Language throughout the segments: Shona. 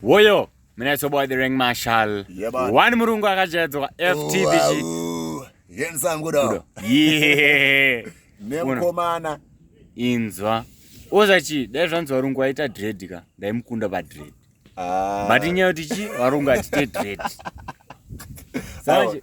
Woyo munetso boy the ring marshal. Yeah, man. One murungu akajaidzwa FTBG. Wow. Yensangu do. Yeah. Nemukomana. Inzwa. Oza chi dai zvanzi varungu vaita dread ka ndaimukunda pa dread. Ah. But nyaya kuti chi varungu atite dread. Sanje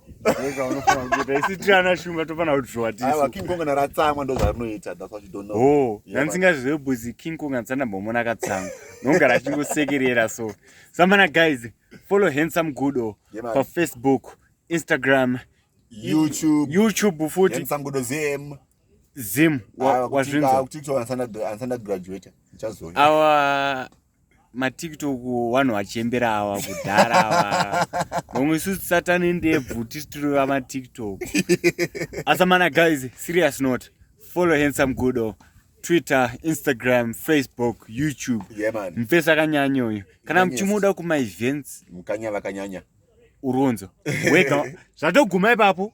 isitirana shumba tofana kutiwatisakinkonga ratsamwa ndozvarinoita oh, ndansingazive buzi kinkonga ndisandambomona akatsamwa nongara achingosekerera so samana guys follow handsome gudo pafacebook instagram youtube youtube futi zim wazvinzwa awa matiktok vanhu vachembera ava kudhara ava nomwe isusu satani ndebvu tisi tiri vamatiktok asamana guys serious not follow handsome gudo twitter instagram facebook youtube mfesi akanyanya uyu kana muchimuda kumaevents mukanya vakanyanya uronzo wega zvatoguma ipapo